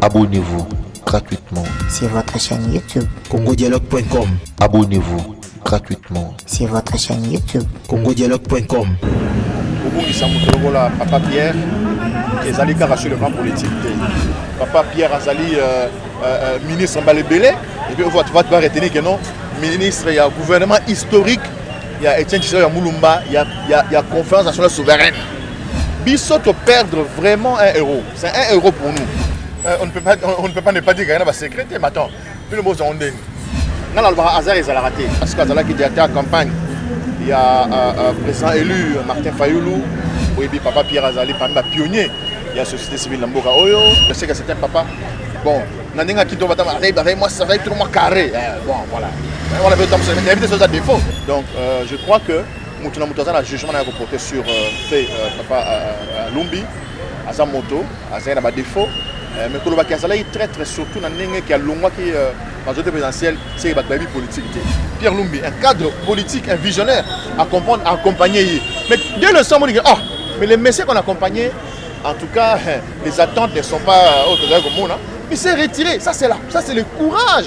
Abonnez-vous gratuitement sur votre chaîne YouTube congodialogue.com. Abonnez-vous gratuitement sur votre chaîne YouTube congodialogue.com. kobungisa moto lokola papa pierre ezali kaka sur le plan politique te papa pierre azali euh, euh, euh, ministre mbala ebele epuis ovatu vatu baretenir ke non ministre ya gouvernement historique ya etienne tshisao ya mulumba ya, ya, ya conférence nationale souveraine biso toperdre vraiment un héros C'est un euro pour nous. Euh, on, ne peut pas, on, on ne peut pas ne pas dire qu'il y en a secret, mais attends, puis le mot en dingue. Nga na lobaka hasard ezalaka te parce que azalaki directeur ya campagne ya euh, euh, président élu Martin Fayulu oyebi papa Pierre azali parmi ba pionnier ya société civile na mboka oyo je sais que c'est un papa bon na ndenge ya kito batama azali azali moi azali trop moi carré eh, bon voilà on avait temps mais éviter ça défaut donc euh, je crois que moto na moto aza na jugement na ya koporter sur euh, fait euh, papa euh, euh, Lumbi aza moto azali na badefaut euh, mais kolobaki azalaki traitre surtout na ndenge ke alongwaki euh, majorité présidentielle seke bato bayebi politique te pierre lumbi un cadre politique un visionnaire accompagne accompagne ye mais dès le somo dike oh mais les messieurs qu'on accompagne en tout cas les attentes ne sont pas euh, oyo tozali komona il s'est retiré ça c'est là ça c'est le courage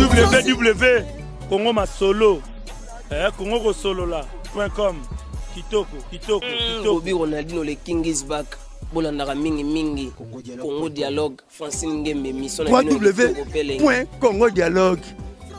www congo masolo eh, congo kosolola point com kitoko kitoko mm, kitoko bobi ronaldino le king is back bolandaka mingi mingi congo dialogue francine ngembe mission na bino congo dialogue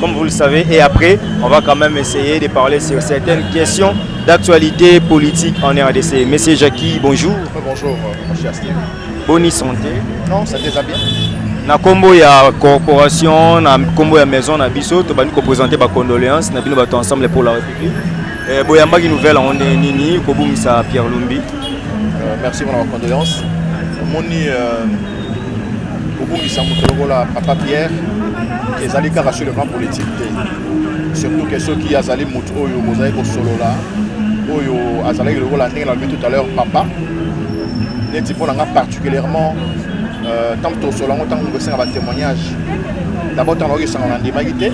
Comme vous le savez, et après, on va quand même essayer de parler sur certaines questions d'actualité politique en RDC. Monsieur Jackie, bonjour. Bonjour, euh, mon cher Steve. Bonne santé. Non, ça déjà bien. na nkombo ya corporation na nkombo ya maison na biso tobandi kopresente bacondoléance na bino bato ensemble pour la république eh, boyambaki nouvelle yango nde nini kobungisa pierre lumbi euh, merci mpona bacondoléance omoni euh, kobungisa moto lokola papa pierre ezali kaka sur le plan politique te surtout ke soki azali moto oyo bozali kosolola oyo azalaki lokola ndenge nalobi tout à l'heure papa neti mpo na nga particulièrement euh, ntango tosolola yango ntango kosenga batémoignage d'abord ntango nakoki esanga nandimaki te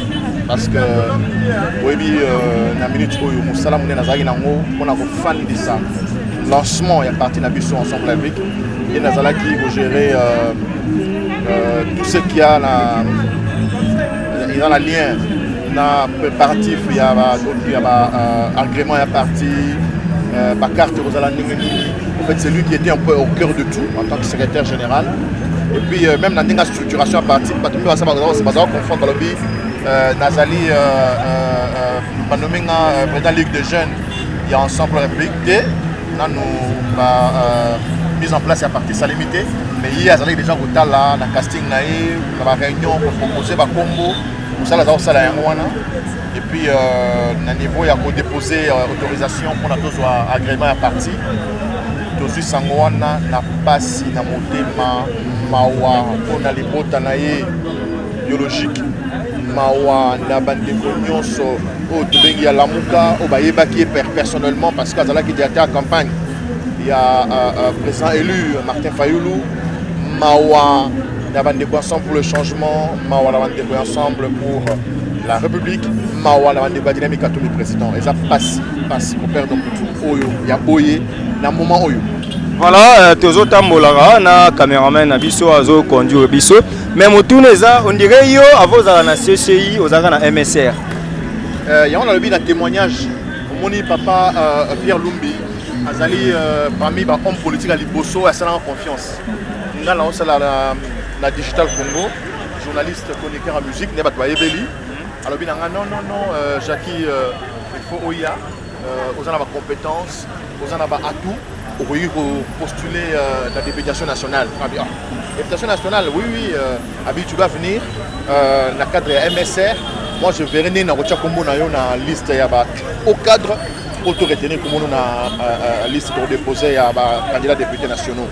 parce que oyebi euh, na minute oyo mosala monene azalaki nango mpo na kofandisa lancement ya parti na biso ensemble avec ye nazalaki kogere euh, euh, tout ce qui a na eza na lien na préparatif ya baagrément ya parti euh, bacarte ekozala ndenge nini en fait c'est lui qui était un peu au cœur de tout en tant que secrétaire général et puis euh, même na ndenge ya structuration ya parti bato mpe basa bazala confondre balobi euh, nazali banomi nga président ligue de jeunes ya ensemble république te nanu ba euh, mise en place ya parti esalemi te mais ye azalaki déjà kotala na casting na ye na baréunion kopropose bakombo mosala aza kosala yango wana epuis euh, na niveau ya kodepose euh, autorisation mpona tozwa agrément ya parti tozwi sango wana na mpasi na motema mawa mpona libota na ye biologique mawa na bandeko nyonso oyo tobengi ya lamuka oyo bayebaki ye personnellement parce que azalaki directeur ya campagne ya euh, euh, président élu martin fayulu mawa na bandeko ensemble pour le changement mawa na bandeko ensemble pour la république mawa na bandeko ya dynamique atumi président eza mpasi mpasi koperdre motu oyo ya boye na moment oyo voilà euh, tozotambolaka na cameraman na biso azoconduire biso Mais motuna eza on dirait yo avant ozala na CCI ozalaka na MSR. Euh, yango nalobi na témoignage omoni papa euh, Pierre Lumbi azali euh, parmi ba homme politique ya liboso asalaka confiance nga na osala na, na digital congo journaliste chroniqueur ya musique nde bato bayebeli alobi na nga non non non euh, jacqui euh, il faut oya Euh, oza na ba compétences, oza na ba atouts, okoki ko postuler euh, la députation nationale. Ah bien. Députation nationale, oui oui, euh, Abi tu dois venir euh, na cadre ya MSR. Moi je verrai nini nakotia kombo na yo na liste ya ba au cadre pour tout retenir kombo na euh, euh, liste pour déposer ya ba candidats députés nationaux.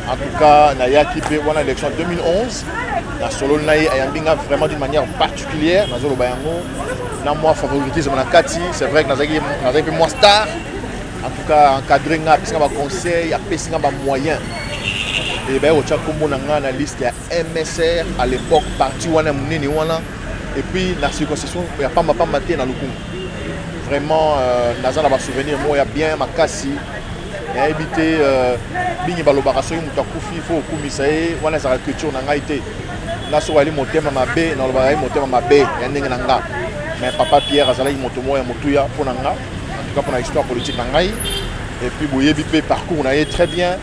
En tout cas, nayaki pe wana élection 2011 na solo na ye ayambi nga vraiment d'une manière particulière Claire, nazo loba yango na moi favoritisme na kati, c'est vrai que nazaki nazaki pe moi star. En tout cas, encadrer nga, apesi nga ba conseils, apesi nga ba moyens. Et ben otya kombo na nga na liste ya MSR à l'époque parti wana munene wana et puis na circoncision ya pamba pamba te na lokumu. Vraiment euh, naza na ba souvenirs moya bien makasi nayebi te euh, mingi balobaka soki moto akufi fo okumisa ye wana ezalaka culture na ngai te nga soki ali motema mabe nalobaka ye motema mabe ya ndenge na nga mais papa pierre azalaki moto moko ya motuya mpo na nga antuka mpo na histoire politique na ngai epuis boyebi mpe parcours na ye très bien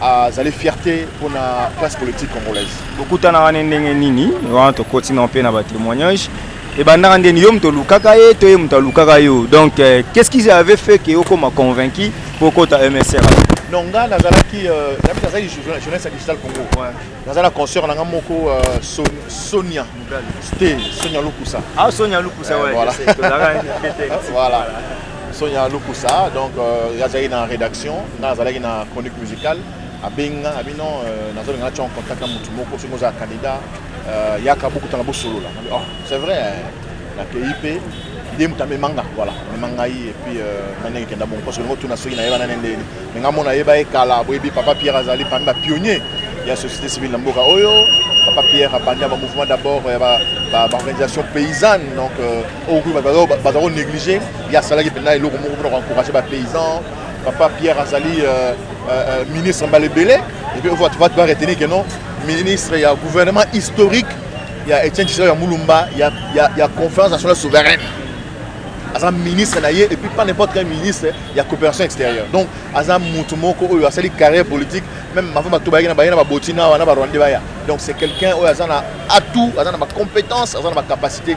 azali fierté mpo na classe politique congolaise bokutanaka ne ndenge nini wana tokoti na mpe na batémoignage ebandaka ndeni yo moto olukaka ye to ye moto alukaka yo donc euh, qu'est ce qu'ils avaient fait ke okoma convaincu mpo okota msr non nga nazalaki euh, nabi nazalaki journaliste ya digital congo naza na concert na nga moko euh, sonia te sonia lukusa ah sonia lukusa eh, voilà voilà sonia lukusa donc azalaki na rédaction nga nazalaki na chronique musicale abengi nga abi non nazolinga natya en contact na motu moko soki ozala candidat Euh, yaka bokutana bosolola oh, c'est vrai nakei mpe ye moto amema nga voilà amema ngai epuis euh, nani akekenda bongo parce que longo tuna soki nayeba nani ndeni me nga mona ayeba ye kala boyebi papa pierre azali parmi bapionnier ya société civile na mboka oyo papa pierre abandi ya bamouvement d'abord ya baorganisation paysanne donc euh, okoki baza konéglige ye asalaki mpenza eloko moko mpona koencourage bapaysan papa pierre azali ministre mbala ebele Et puis, tu vas, tu vas retenir que non, ministre, il y a un gouvernement historique, il y a Etienne Tshisekedi, il y a Moulumba, il y a, il y a, il y a conférence nationale souveraine. aza ministre na ye et puis pas n'importe quel ministre ya coopération extérieure donc aza motu moko oyo asali carrière politique même mavo bato bayaki na baye na baboti na wana barwande baya donc c'est quelqu'un oyo aza na atout aza na bacompétence aza na bacapacité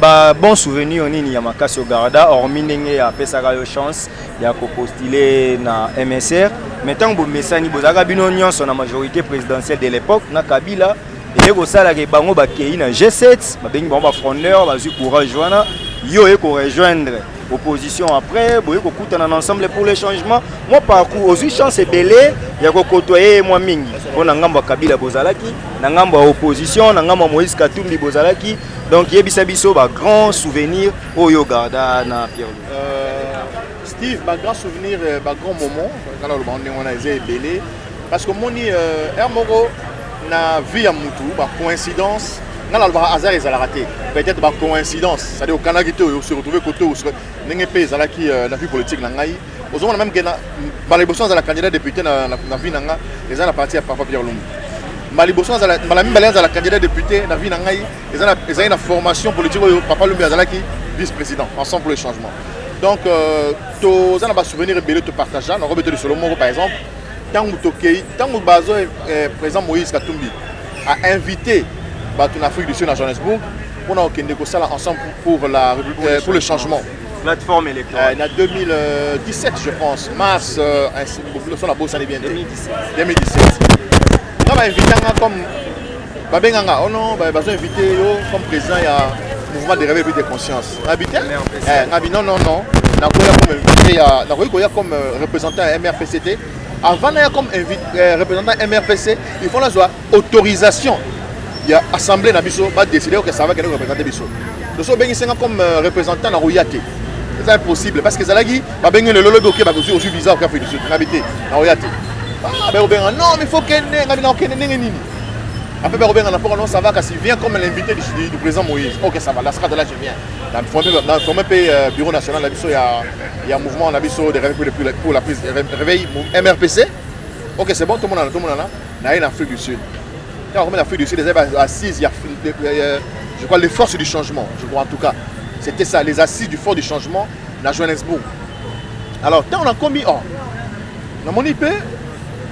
Ba bon souvenir nini ya makasi ogarda hormis ndenge ya pesaka yo chance ya ko postuler na MSR mais tango bomesani bozalaka bino nyonso na majorité présidentielle de l'époque na Kabila eye kosala ke bango bakei na G7 babengi bango ba frondeur bazwi courage wana yo oye ko rejoindre opposition après boye kokutana na ensemble pour le changement mwa parcours ozwi chance ebele ya kokotoye ye mwa mingi mpo na ngambo ya kabila bozalaki na ngambo ya opposition na ngambo ya moïse katumbi bozalaki donc yebisa biso ba grand souvenir oyo garda na pierre euh, steve ba grand souvenir euh, ba grand moment kala oloba ngo ndenge wana eza ebele parce que omoni euh, heure moko na vie ya mutu ba coïncidence nga nalobaka hasard ezalaka te peut-être ba coïncidence c'est-à-dire okanaki te oyo se retrouve kote ndenge mpe ezalaki na vie politique na ngai ozomona meme ke mbala liboso nazala candidat député na, na, na vie na nga eza na parti ya papa pierre lumbu mbala liboso nazala mbala mibale azala candidat député na vie na ngai ezali na formation politique oyo papa lumbu azalaki vice président ensemble pour le changement donc euh, toza na basouvenir ebele topartagea nakobeta lisolo moko par exemple ntango tokei ntango bazo eh, président moïse katumbi a invité bato na afrique du sud na johannesbourg mpona kokende kosala ensemble pour, la, euh, pour le changement plateforme électorale. Euh, na 2017, je pense, mars, euh, sur la bourse, 2017. 2017. Quand m'a invité comme babenganga oh non bah, bazo invité yo comme président ya mouvement de réveil de conscience ngabi te eh, ngabi non non non nakoya comme invité ya nakoki koya comme euh, représentant ya mrpc te avant naya comme invité euh, représentant mrpc il faut nazwa autorisation ya assemblée na biso ba décider que ça va kende représenter biso donc so bengi senga comme euh, représentant na roya te c'est impossible parce que zalaki ba bengi le lolobi ok ba kozui ozui visa ok afedi na bité na roya te ba ko benga non mais faut kende ngai na kende ndenge nini après ba ko benga na poko non ça va kasi vient comme l'invité du, du président Moïse ok ça va la sera de là je viens na formé na formé pe euh, bureau national na biso ya ya mouvement na biso de réveil pour la prise réveil MRPC ok c'est bon tout le monde là tout le monde là naye na afrique du sud ntango akomi na afrique du sud ezali baassise ya je crois les forces du changement je crois en tout cas c'était ça les assises du fort du changement na johannesbourg alors ntango nakomi or oh, namoni mpe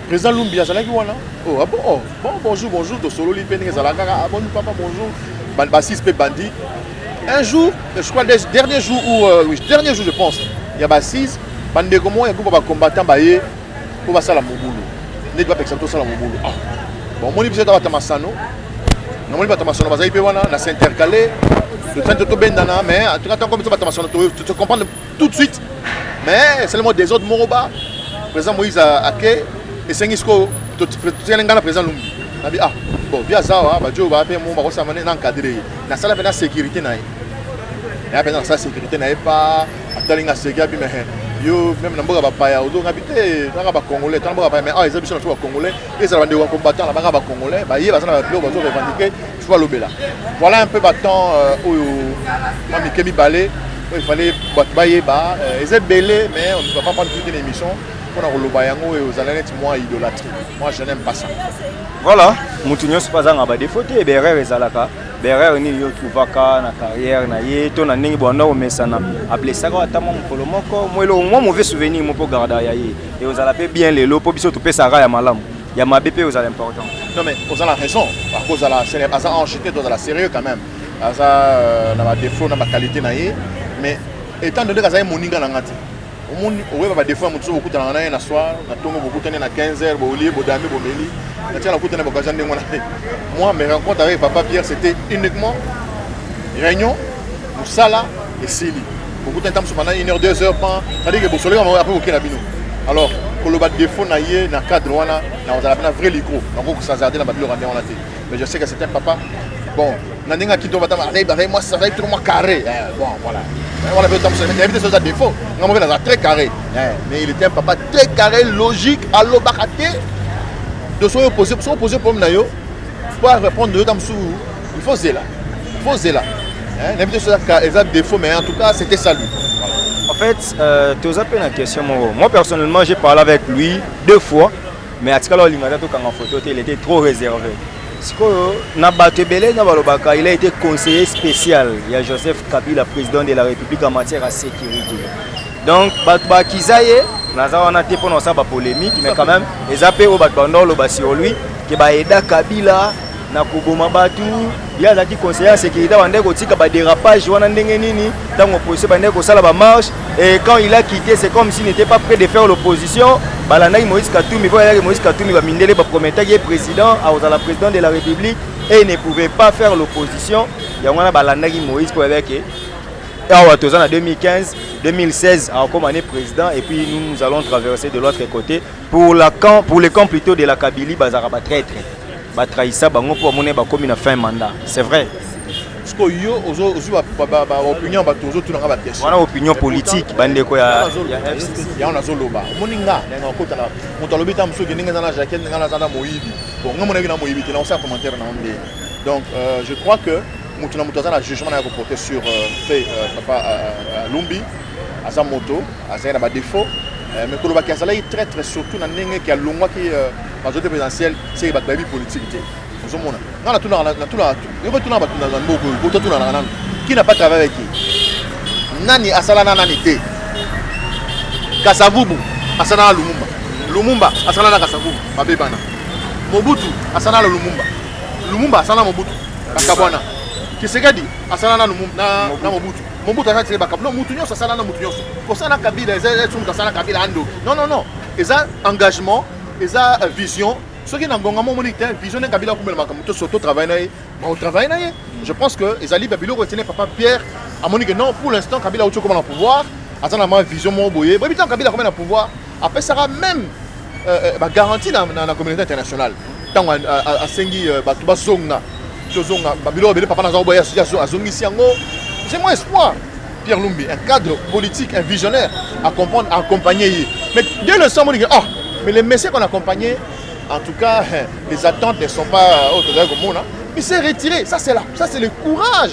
président lumbi azalaki wana oh, ah bon, oh, bon bonjour bonjour tosololi mpe ndenge ezalaka kaka aboni ah, papa bonjour bassise mpe bandi un jour je crois dernier jour ou euh, oui, dernier jour je pense ya bassise bandeko moko ya groupe ya bacombattant baye mpo basala mobulu ndeti bapekisa biso tosala mobulu ah, bamoni biso ata bata masano namoni bata masano bazali mpe wana na s'intercale totani totobendana mais en tout cas ntango biso bata masano te comprendre tout de suite mais esalemo desordre moko ba président moïse ake esengi sikoyo totikali ngai na président lumbi nabi ah bon bia aza wa bajo ba mpe mo bakosama na encadre ye nasala mpe na sécurité na ye ya mpenza nasala sécurité na ye pa atali nga seki abi mehe yo meme na mboka bapaya ozonga bi te nanga bacongolais tana mboka bapaya mais awa eza biso na biso bacongolais ezala bandeko ya combattant na banga bacongolais baye baza na babiloko bazo revendiquer il faut balobela voilà un peu batemps euh, oyo mwa mike mibale oyo ifallait bato bayeba euh, eza ebele mais on ne va pas prendre toute une émission mpona koloba yango oyo ozala neti mwa idolatrie moi je n'aime pas ça voilà moto nyonso mpe azanga badefo te berere ezalaka Berere nini yo otuvaka na carrière na ye to na ndenge bwanda komesana ablesaka ata mwa mokolo moko mwa eloko mwa mauvais souvenir moko garda ya ye e ozala mpe bien lelo mpo biso topesaka ya malamu ya mabe mpe ozala important non mais oza na raison akozala aza ange te tozala sérieux quand même aza euh, na badéfaut na baqualité na ye mais étant donné kazali moninga na ngai te omoni oyeba ba défaut ya moto soki bokutanaka na ye na soir na ntongo bokutani na 15 heures bolie bodami bomeli na tia nakutani na bokazia ndenge wana te moi mes rencontres avec papa pierre c'était uniquement réunion mosala esili bokutani ntango mosusu pendant une heure deux heures pan c'est-à-dire que bosoleka apres boke na bino alors koloba défaut na ye na cadre wana nakozala mpe na vrai licro nakoki kosazarde na babiloko ya ndenge wana te mais je sais que c'est un papa bon na ndenge ya kitoko batama azali bazali mwasi azali toko mwa carré eh, bon voilà eh, wana mpe otambusa nayebi te soki eza défaut nga moko naza très carré eh, mais il était un papa très carré logique alobaka te de soki opose soki opose problème na yo mpo arépondre yo ta mosusu il faut zela il faut zela nayebi te soki eza défaut mais en tout cas c'était salut en fait euh, toza mpe na question moko moi personnellement j'ai parlé avec lui deux fois Mais atikala olinga ata tokanga photo te, il était trop réservé. Sikoyo na bato ebele na balobaka il a été conseiller spécial ya Joseph Kabila président de la République en matière ya sécurité. Donc bato bakiza ye naza wana te mpo na kosala ba polémique mais quand même eza mpe oyo bato bandoloba sur lui ke baeda Kabila na koboma bato ye azalaki conseiller ya sécurité abandaki kotika badérapage wana ndenge nini ntango opposition bandaki kosala bamarche et quand il a quitté c'est comme s'il n'était pas près de faire l'opposition balandaki moïse katumbi mpo ayaki moïse katumbi bamindele baprometaki ye président akozala président de la république et ne pouvait pas faire l'opposition yango wana balandaki moïse mpo ayaki awa toza na 2015 2016 akokoma ne président et puis nous, nous allons traverser de l'autre côté pour, la camp, pour le camp plutôt de la kabylie bazalaka batraitre Ba trahissa bango mpo bamoni bakomi na fin mandat. C'est vrai. Siko yo ozo ozo ba ba ba opinion ba tozo tuna ka ba question. Wana opinion politique bande ko ya ya FCC. Ya on azo loba. Moni nga na nga kota la. Moto alobi ta musoki ndenge za na jaquette ndenge na za na moyibi. Bon nga mona na moyibi te na osa commentaire na onde. Donc euh, je crois que moto na moto aza na jugement na ya ko porter sur euh, fait euh, papa euh, euh, Lumbi. aza moto azali na badefaut euh, mais kolobaki azalaki traitre surtout na ndenge ke alongwaki euh, majorité présidentielle seke bato bayebi politique te ozomona nga natunaka bato na mboka oyo bototunanaka nano qui n'a pas travaillé avec qui nani asala na nani te kasavubu asala na lumumba lumumba asala na kasavubu babebana mobutu asala na lumumba lumumba asala na mobutu bakabwana kisekedi asala na mobutu Mobutu aza tiré bakabila non mutu nyonso asala na mutu nyonso kosala kabila eza eza mutu asala kabila andoki non non non eza engagement eza euh, vision soki na ngonga mo omoni te vision nde kabila akumela makambo to soto travaille na ye baotravaille na ye je pense que ezali ba biloko etene papa pierre amoni que non pour l'instant kabila auti okoma na pouvoir aza na ma vision moko boye boyebi ntango kabila akomai na pouvoir apesaka meme euh, ba garantie na, na, na communauté internationale ntango asengi euh, bato bazonga tozonga babilo babele papa naza koboya azongisi yango j'ai mon espoir pierre lumbi un cadre politique un visionnaire à comprendre à accompagner ye mais dès le sang monike oh mais les messieurs qu'on accompagné en tout cas les attentes ne sont pas oyo tozali komona il s'est retiré ça c'est là ça c'est le courage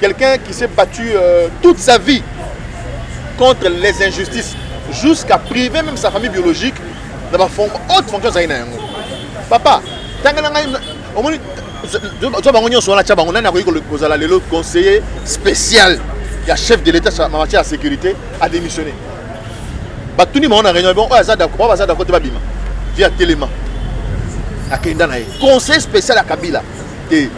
Quelqu'un qui s'est battu euh, toute sa vie contre les injustices, jusqu'à priver même sa famille biologique dans la forme, haute fonction azali na yango. Papa, tanga na ngai omoni zo bango nyonso wana tya bango nani akoki kozala lelo conseiller spécial ya chef de l'état na matière ya sécurité adémissionné batuni bango na réunion bon oyo aza d'accord baza d'accord te babima via telema akenda na ye conseiller spécial ya kabila te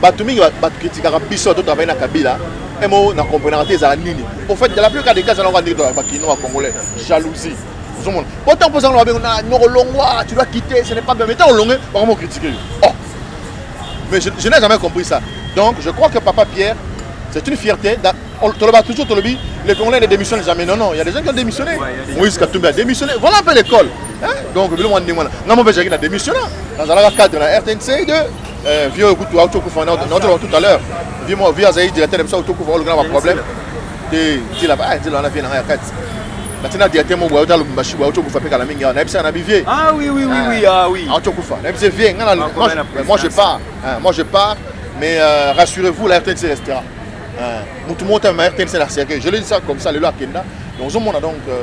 bato mingi bato kritikaka biso to travaille na kabila emo na comprenaka te ezala nini au fait dans la plupart des cas ezala kaka ndenge tolaka bakino ya congolais jalousie ozomona po ntango mpozanga na babengo na nyoko longwa tu dois quitter ce n'est pas bien mais ntango olongue bakoma okritike yo oh mais je, je n'ai jamais compris ça donc je crois que papa pierre c'est une fierté toloba toujours tolobi les congolais ne démissionnent jamais non non il y a des gens qui ont démissionné moïse katumbi a démissionné voilà un peu l'école donc biloko mwa ndenge wana ngai mo mpe ezalaki na démissionna nazalaka cadre na rtnc de euh, vieux oyo kutu auti okufa naotoloba tout à l'heure vieux mo vieux azali directeur na biso auti okufa olukana ba problème te nzela ba ah, nzela wana vieux na ngai ya kati batina directeur mo boyauta lubumbashi boyauti okufa mpe kala mingi awa nayebisaka na bivieux ah oui oui oui oui euh, ah oui auti okufa nayebisi vieux ngai na moi je pars moi je pars mais euh, rassurez-vous la rtnc restera motu moko te ma rtnc na cercueil je le dis ça comme ça lelo akenda donc ozomona donc euh,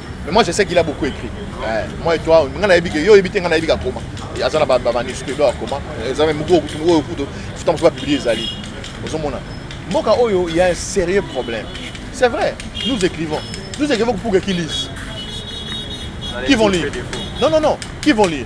Mais moi je sais qu'il a beaucoup écrit. Ouais. Moi et toi, nga na yebike yo yebite nga na yebika koma. Et azana ba ba manuscrits do koma. Eza même moko kutu moko kutu. Futa mso ba publier ezali. Ozo mona. Mboka oyo il y a un sérieux problème. C'est vrai. Nous écrivons. Nous écrivons pour qu'ils lisent. Qui vont lire Non non non, qui vont lire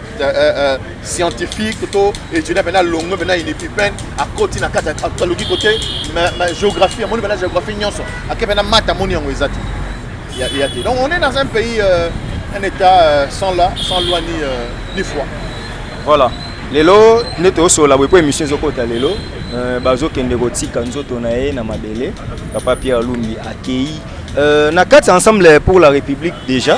Euh, euh, euh, scientifique to étudiant mpena longo mpena unipipen akoti na kati aluki kote géographie amoni mpena géographie nyonso ake mpena mata amoni yango eza te ya te donc on est dans un pays euh, un état euh, sans, la, sans loi ni, euh, ni foi voilà lelo nde tozosola boye mpo émission ezokota lelo euh, bazokende kotika nzoto na ye na mabele papa pierre lumbi akei euh, na kati ensemble pour la république déjà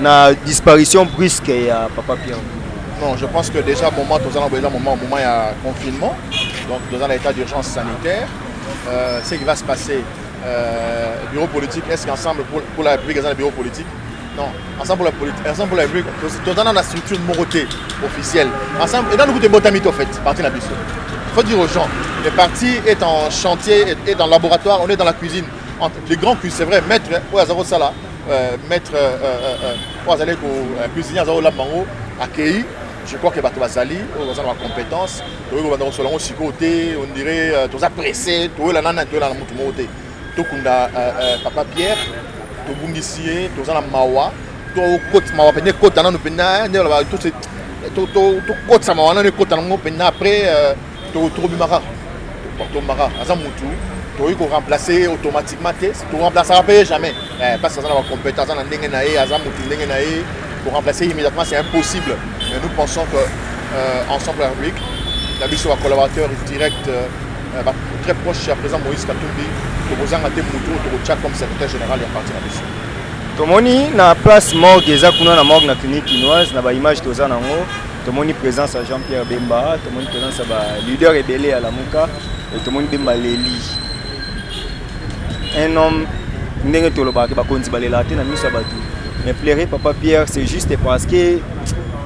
Na disparition brusque ya Papa Pierre. Non, je pense que déjà moment toza na boza moment moment ya confinement. Donc toza na état d'urgence sanitaire. Euh, ce qui va se passer euh, bureau politique est-ce qu'ensemble pour, pour la République eza na bureau politique non ensemble pour la politique ensemble pour la République toza na na structure moko te officielle ensemble et dans nous te botami to fait parti na biso faut dire aux gens le parti est en chantier est, est en laboratoire on est dans la cuisine entre les grands cuisiniers c'est vrai maître oyo aza kosala Euh, maître euh, euh, oyo azali cuisinier aza kolamba yango akei je crois que bato bazali oyo baza na bacompétence tokoki kobanda kosola yango sikoyo te on dirait toza presse toyela nani toyela na motu moko te tokunda papa pierre tobungisi ye toza na mawa tokoti mawa mpenza ekota nano mpenza ndenge tokotisa mawa nano ekota nango mpenza après tokobima kaka tokomba kaka aza mutu tokoki koremplace ye automatiquement te toremplacaka mpe ye jamais eh, parce aza na bacompétence aza na ndenge na ye aza mutu ndenge na ye koremplace ye immédiatement c'est impossible mais nous pensons que euh, ensemble la république na biso bacollaborateur direct euh, euh très proche ya président moïse katumbi tokozanga te mutu oyo tokotya comme secrétaire général ya parti na biso tomoni na place morgue eza kuna na morgue na clinique kinoise na baimage toza na yango tomoni présence ya jean pierre bemba tomoni présence ya ba leader ebele ya lamuka e tomoni bemba leli un homme ndenge tolobaka bakonzi balelaka te na miso ya bato mais plaire papa pierre c'est juste parce que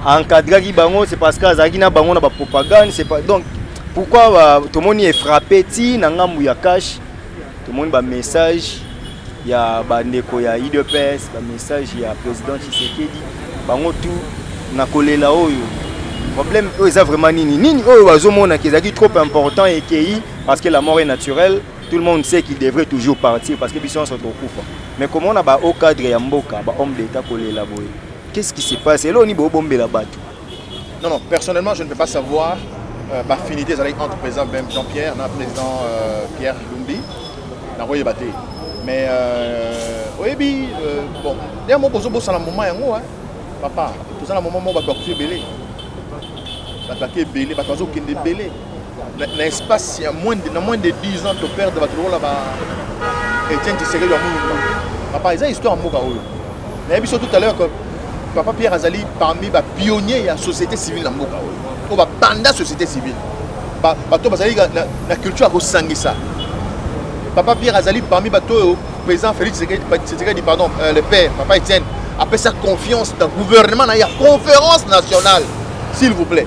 encadraki bango c'est parce que azalaki na bango na bapropagande c'est pas donc pourquoi tomoni efrappe ti na ngambu ya cash Tomoni ba message ya ba ndeko ya IDPS, ba message ya president Tshisekedi, bango tout na kolela oyo problème oyo eza vraiment nini nini oyo bazomona ke ezalaki trop important ekei parce que la mort est naturelle tout le monde sait qu'il devrait toujours partir parce que biso nyonso tokufa mais komona ba haut cadre ya mboka ba homme d'état kolela boye qu'est-ce qui se passe eloo nini bobombela bato Non, non, personnellement, je ne peux pas savoir euh, baffinité ezalaki entre président ben Jean-Pierre na président euh, Pierre Lumbi nakoyeba te mais euh, oyebi euh, bon nde moko ozobosana moment yango hein, papa toza na moment moko bato bakufi ebele bato bake ebele bato bazokende ebele na, na espace ya moins de, na moins de 10 ans to perdre bato lokola ba Etienne Tshisekedi ya Mulumba papa eza histoire ya mboka oyo nayebi so tout à l'heure que papa Pierre azali parmi ba pionniers ya société civile na mboka oyo oyo babanda société civile bato bazali na, na culture ya kosangisa papa Pierre azali parmi bato oyo président Félix Tshisekedi pardon euh, le père papa Etienne apesa confiance na gouvernement na ya conférence nationale s'il vous plaît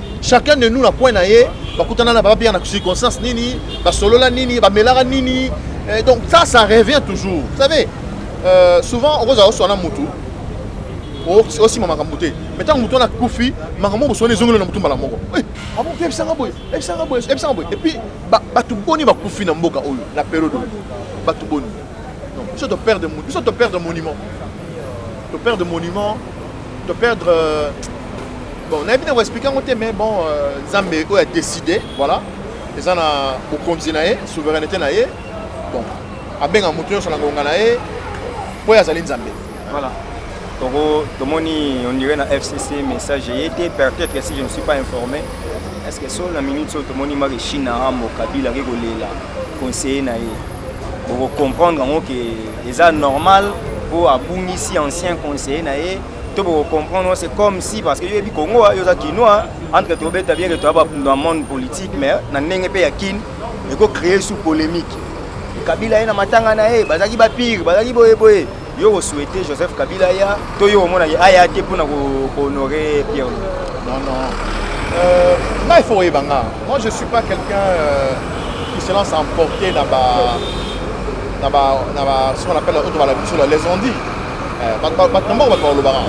chacun de nous na coin na ye bakutana na papa pierre na circonstance nini basolola nini bamelaka nini eh, donc ça ça revient toujours vous savez euh, souvent okozala oswana mutu osima makambo te mai ntango motu wana akufi makambo boswana ezongeli na motu mbala moko eh, abo ah mpe ebisanga boye ebisanga boye ebisanga boye epuis bato boni bakufi na mboka oyo na periode oyo bato boni biso toperdre biso toperdre monument toperdre monument To perdre euh, bon na bino expliquer ngote mais bon euh, Zambe oyo a décider voilà eza na bokonzi na ye souveraineté na ye bon abenga moto nyonso na ngonga na ye mpo ye azali nzambe voilà toko tomoni on dirait na fcc message eye te peut-être que si je ne suis pas informé est ce que so na minute oyo tomoni maki chine na rambo kabila ake kolela conseiller na ye bokocomprendre yango ke Eza normal po abungisi ancien conseiller na ye to boko comprendre c'est comme si parce que yo yebi Congo yo za kinois entre to beta bien que to ba dans monde politique mais na ndenge pe ya kin et ko créer sous polémique Kabila ye na matanga na ye bazaki ba pire bazaki boye boye yo ko souhaiter Joseph Kabila ya to yo omona ye aya te pona ko honorer Pierre non non euh ngai faut ebanga moi je suis pas quelqu'un euh, qui se lance à emporter là-bas na ba na ba ce qu'on appelle auto bala biso la les on dit eh, ba ba na moko ba ko lobaka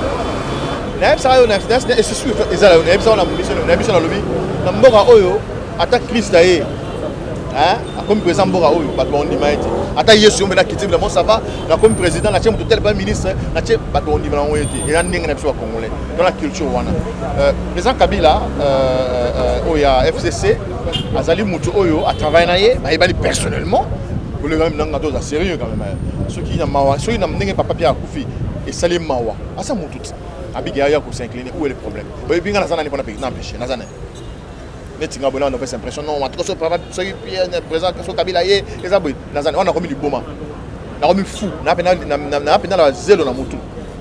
na yebisa yo na finance na esusu eza la na yebisa na biso na biso na lobi na mboka oyo ata Christ aye hein akomi président mboka oyo bato baondima ye te ata yesu yo mpe nakiti bilamo sava nakomi président natie moto tel prime ministre natie bato baondima nango ye te eza ndenge na biso bacongolais to na culture wana euh, président kabila euh, euh, oyo ya fcc azali mutu oyo a travaille na ye bayebani personnellement koleka meme nanga toza sérieux quand même soki na mawa soki na ndenge papa Pierre akufi esali mawa asa mutu ti abiki aya ko s'incliner où est le problème oyebi nga naza nani mpona na empêche naza nani neti nga boyena nopesa impression non matuka so papa soki Pierre présent so kabila ye eza boye naza wana nakomi liboma nakomi fou naa mpe nala zelo na mutu